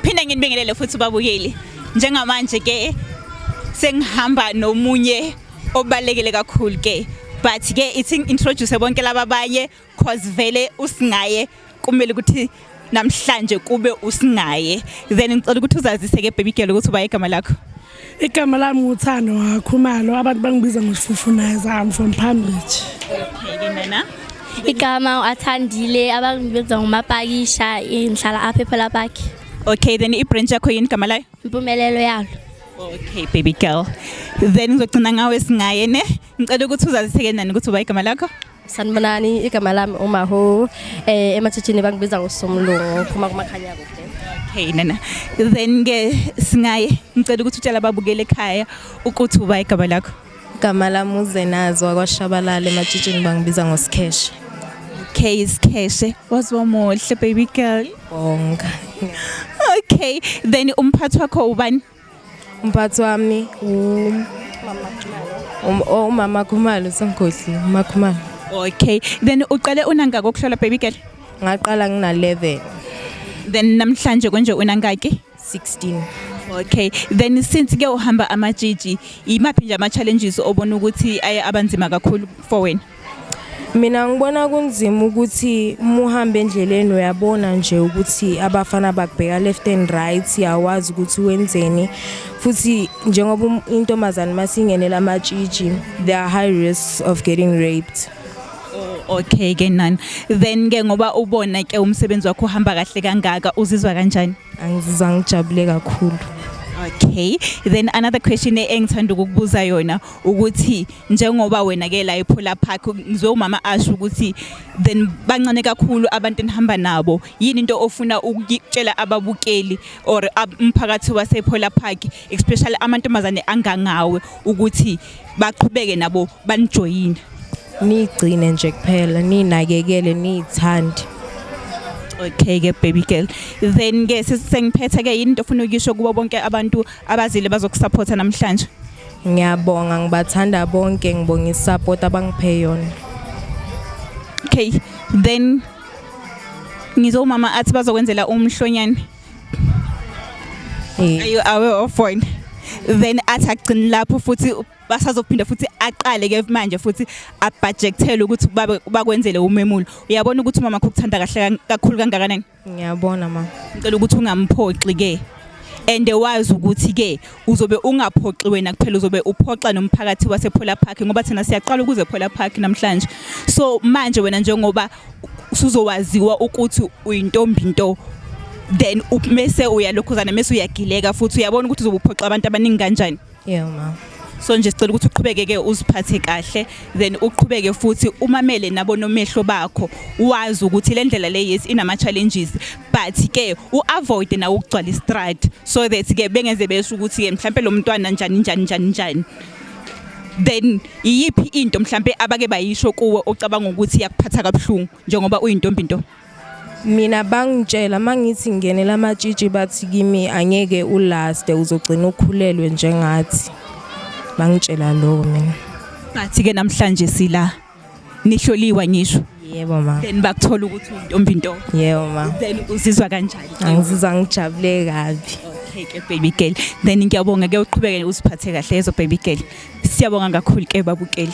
Phinde nginibingelele futhi babukeli. Njengamanje ke sengihamba nomunye obalekele kakhulu ke but ke ithi introduce bonke laba baye cause vele usingaye kumele ukuthi namhlanje kube usingaye then ngicela ukuthi uzazise ke baby girl ukuthi uba igama lakho Igama lami nguthando wakhumalo abantu bangibiza ngosifufunaza I'm from Palm Beach. Okay, ke nana. Igama uathandile abantu benza ngomapakisha inhlala apha ePhela Park. Okay, then i-branch yakho yini igama layo? Impumelelo yalo. Okay, baby girl. Then ngizogcina ngawe singaye ne. Ngicela ukuthi uzaziseke nani ukuthi uba igama lakho? Sanibonani igama lami uMaho eh ematshitshini bangibiza ngosomlungu phuma kumakhanya kude Okay nana then ke singaye ngicela ukuthi utshela ababukeli ekhaya ukuthi uba igama lakho igama lami uzenazwa kwashabalala ematshitshini bangibiza ngosikheshe Okay Skheshe waziwa muhle baby girl bonga Okay then umphathi wakho ubani umphathi wami umama oh, khumalo sengikhohlile umama khumalo okay then uqale unangaki ukuhlola baby girl ngaqala ngina-11 then namhlanje konje unangaki 16 okay then since ke uhamba amajiji imaphi nje ama-challenges obona ukuthi aye abanzima kakhulu for wena mina ngibona kunzima ukuthi muhambe endleleni uyabona nje ukuthi abafana bakubheka left and right yawazi ukuthi wenzeni futhi njengoba um, intombazane masingenela amatshitshi there are high risks of getting raped oh, okay ke nani then ke ngoba ubona ke umsebenzi wakho uhamba kahle kangaka uzizwa kanjani angizizwa ngijabule kakhulu Okay then another question engithanda ukukubuza yona ukuthi njengoba wena ke la ePhola Park ngizwe umama asho ukuthi then bancane kakhulu abantu enihamba nabo yini into ofuna ukutshela ababukeli or umphakathi wasePhola Park especially amantombazane angangawe ukuthi baqhubeke nabo banijoyine nigcine nje kuphela ninakekele nithande okay ke baby girl then ke sengiphethe ke yini into ofuna ukuyisho kubo bonke abantu abazile bazokusupporta namhlanje Ngiyabonga ngibathanda bonke ngibonga isupport abangiphe yona. Okay, then ngizwa umama athi bazokwenzela umhlonyane. Eh. Are you aware of one? Then athi agcini lapho futhi basazophinda futhi aqale ke manje futhi abhajekthele ukuthi bakwenzele umemulo. Uyabona ukuthi umama ukuthanda kahle kakhulu kangakanani? Ngiyabona ma. Ngicela ukuthi ungamphoxi ke. And wazi ukuthi ke uzobe ungaphoxi wena kuphela uzobe uphoxa nomphakathi wasePhola Park ngoba thina siyaqala ukuze Phola Park namhlanje. So manje wena njengoba usuzowaziwa ukuthi uyintombi into then mese uyalokhuzana mese uyagileka futhi uyabona ukuthi uzobuphoxa abantu abaningi kanjani. Yeah ma. So nje sicela ukuthi uqhubeke ke uziphathe kahle then uqhubeke futhi umamele nabo nomehlo bakho wazi ukuthi le ndlela le yes inama challenges but ke uavoid na ukugcwala istrad so that ke bengeze besho ukuthi ke mhlambe lo mntwana njani njani njani njani then iyiphi into mhlambe abake bayisho kuwe ocabanga ukuthi yakuphatha kabuhlungu njengoba uyintombi into mina bangitshela mangithi ngenela amatshitshi bathi kimi angeke ulaste uzogcina ukhulelwe njengathi bangitshela lokho mina ngathi ke namhlanje sila nihloliwa ngisho yebo ma then bakuthola ukuthi untombi into yebo ma then uzizwa kanjani angizizwa ngijabule kabi okay ke baby girl then ngiyabonga ke uqhubeke uziphathe kahle yezo baby girl siyabonga kakhulu ke babukeli